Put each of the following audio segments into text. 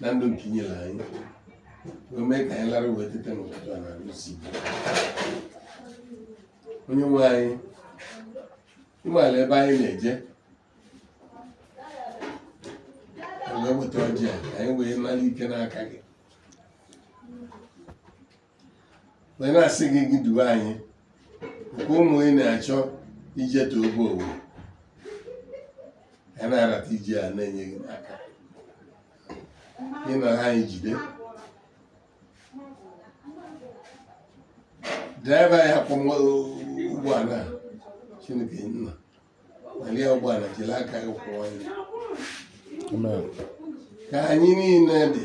na ndụ nke i nyere anyị wee mee ka anyị lara wee teta n'ụtụtụ a n'arụ isi onye nwe anyị ị maala ebe anyị na-eje wee weta ọjị a anyị wee nara ike n'aka gị wee na-asị gị gị duwe anyị nke ụmụ ị na-achọ ijetu obe owo ya na-arata ije a na-enye gị n'aka ịnọ ha anyị jide driver ya-akwọ ụgbọala Chineke Nna nalụ ya ụgbọala jiri aka gị kwọọ ya ka anyị niile dị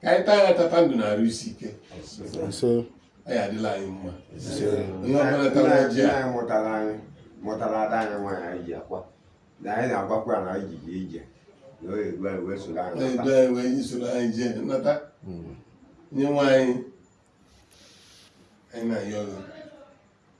ka anyị taa ya tata ndụ na arụ isi ike ọ ya-adịlị anyị mma onye ọbụla tara ọjị a mụtara ada anyị nwaanyị anyị ji akwa na anyị na-agwakwa ya na anyị ji ije na oyi egwu anyị wee soro anyị edo anyị wee anyị soro anyị jee nata onye nwe anyị anyị na-ayọ gị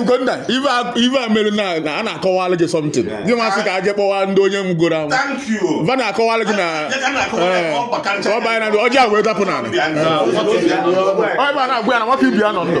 Ugonna ive a mere na a na-akọwalụ gị something gị nwa sị ka a jee kpọwa ndị onye ngwọrọ ahụ va na-akọwalụ gị na ọ banye na ọjị a wee dapụ n'ala ọ ebe a na-agwa ya na nwata ibe ya nọ ndụ